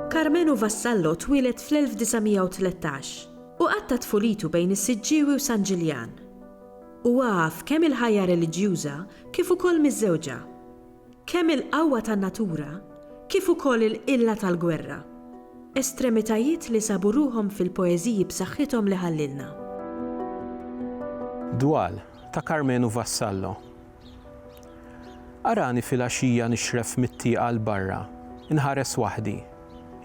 Karmenu Vassallo twieled fl-1913 u qatta' tfulitu bejn is-Siġġiewi u San Ġiljan. Huwa għaf kemm il-ħajja reliġjuża kif ukoll miżżewġa. Kemm il-qawwa tan-natura kif ukoll il-qilla tal-gwerra, estremitajiet li sabu ruħhom fil-poeżiji b'saħħithom li ħallilna. Dwal, ta' Karmenu Vassallo Arani filgħaxija nixref mit-tieqa 'l barra, inħares waħdi,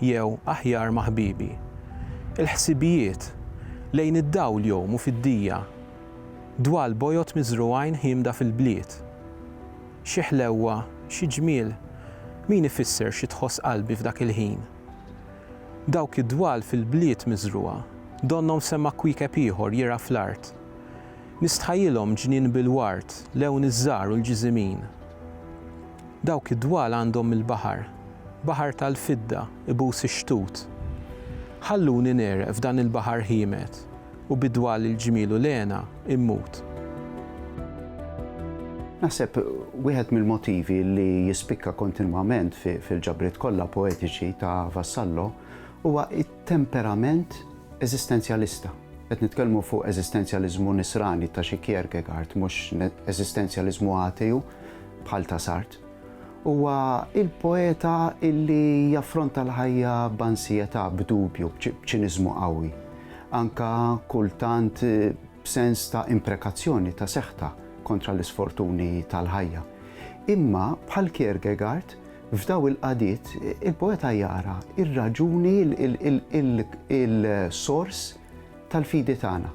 jew, aħjar, ma' ħbiebi. Il-ħsibijiet, lejn id-dawl jgħumu fid-dija. Dwal bojod miżrugħin ħiemda fil-bliet. Xi ħlewwa, xi ġmiel, min ifisser xi tħoss qalbi f'dak il-ħin? Dawk id-dwal fil-bliet miżrugħa, donnhom semgħa kwiekeb ieħor jirgħa fl-art. Nistħajjilhom ġnien bil-ward, lewn iż-żahar u l-ġiżimin. Dawk id-dwal għandhom mill-baħar, baħar tal-fidda, ibus ix-xtut. Ħalluni negħreq f'dan il-baħar ħiemet, U bid-dwal il-ġmiel u l-hena immut. Naħseb wieħed mill-motivi li jispikka kontinwament fil-ġabriet kollha poetiċi ta' Vassallo huwa t-temperament eżistenzjalista. Qed nitkellmu fuq eżistenzjaliżmu nisrani ta' xi Kierkegaard, mhux eżistenzjaliżmu ateu bħal ta' Sartre. Huwa l-poeta illi jaffronta l-ħajja b'ansjetà, b'dubju, b'ċiniżmu qawwi, anke kultant b'sens ta' imprekazzjoni ta' seħħtha kontra l-isfortuni tal-ħajja. Imma, bħal Kierkegaard, f'daw il-qagħdiet il-poeta jara r-raġuni, il-sors tal-fidi tagħna.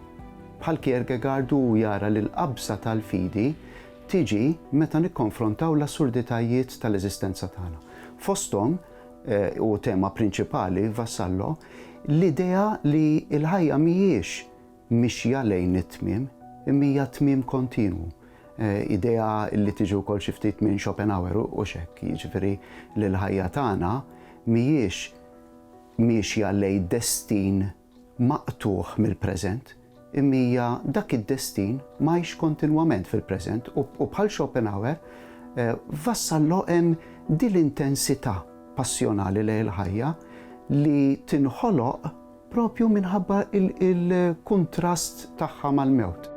Bħal Kierkegaard hu jara li l-qabża tal-fidi tiġi meta nikkonfrontaw l-assurditajiet tal-eżistenza tagħna. Fosthom, u tema prinċipali Vassallo, l-idea li l-ħajja mhijiex mixja lejn it-tmiem, imma hija tmiem kontinwu. Idea li tiġi wkoll xi ftit minn Schopenhauer u x'hekk, jiġifieri li l-ħajja tagħna mhijiex miexja lejn destin maqtugħ mill-preżent, imija dak id-destin mgħix kontinwament fil-preżent u bħal Schopenhauer vassal loqem din l-intensità passjonali lejn il-ħajja li tinħoloq propju minħabba l-kuntrast tagħha mal-mewt.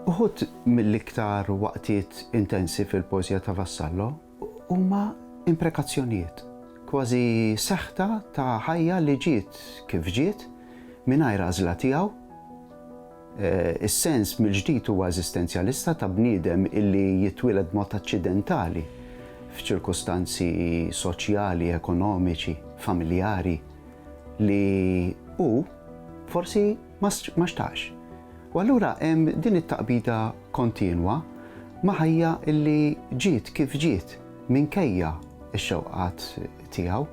Uħud mill-iktar waqtiet intensi fil-poeżija ta' Vassallo, Huma imprekazzjonijiet, kważi seħta ta' ħajja li ġiet kif ġiet, mingħajr għażla tiegħu. Is-sens mill-ġdid huwa eżistenzjalista ta' bniedem illi jitwieled b'mod aċċidentali f'ċirkustanzi soċjali, ekonomiċi, familjari li hu forsi Ma xtaqx. U allura hemm din it-taqbida kontinwa ma' ħajja li ġiet kif ġiet minkejja x-xewqat tiegħu.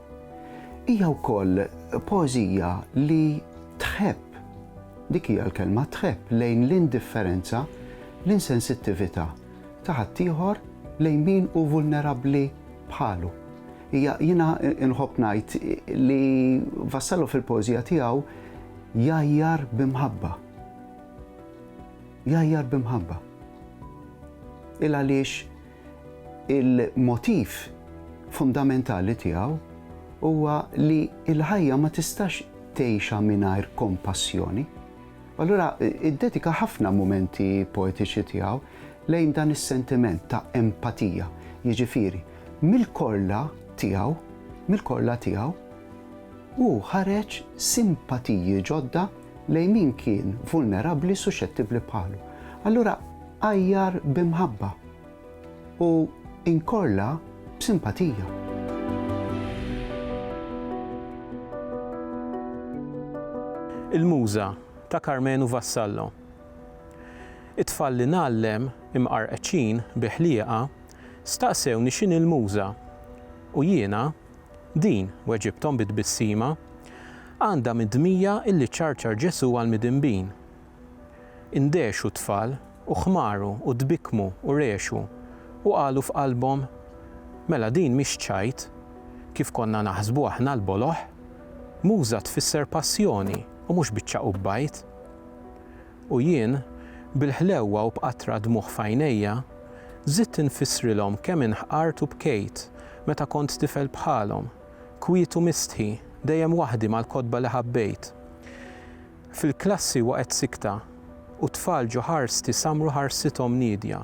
Hija wkoll poeżija li tħebb, dik hija l-kelma, tħebb lejn l-indifferenza, l-insensittività ta' ħaddieħor lejn min hu vulnerabbli bħalu. Hija jiena inħobb ngħid li Vassallo fil-poeżija tiegħu jgħajjar b'imħabba. Jgħajjar b'imħabba. Il għaliex il-motiv fundamentali tiegħu huwa li l-ħajja ma tistax tgħixha mingħajr kompassjoni. Allura iddedika ħafna mumenti poetiċi tiegħu lejn dan is-sentiment ta' empatija, jiġifieri Mill-korla tiegħu, mill-korla tiegħu, hu ħareġ simpatiji ġodda lejn min kien vulnerabbli, suxxettibbli bħalu. Allura għajjar b'imħabba u inkorla b'simpatija. Il-Muża, ta' Karmenu Vassallo. It-tfal li ngħallem, imqarqċin, bi ħliqa, Staqsewni x'inhi l-Muża, u jiena, Din, weġibthom bi tbissima, għandha midmija illi ċċarċar Ġesù għall-midinbin. Indehxu t-tfal, u ħmaru, u tbikkmu, u rgħexu, u qalu f'qalbhom, Mela din mhix ċajt, kif konna naħsbu aħna l-boloh. Muża tfisser passjoni, u mhux biċċa qubbajt. U jien, bil-ħlewwa u b'qatra dmugħ f'għajnejja, żidt infissrilhom kemm inħqart u bkejt meta kont tifel bħalhom, kwiet u mistħi, dejjem waħdi mal-kotba li ħabbejt. Fil-klassi waqgħet sikta, u t-tfal ġo ħarsti samru ħarsithom niedja,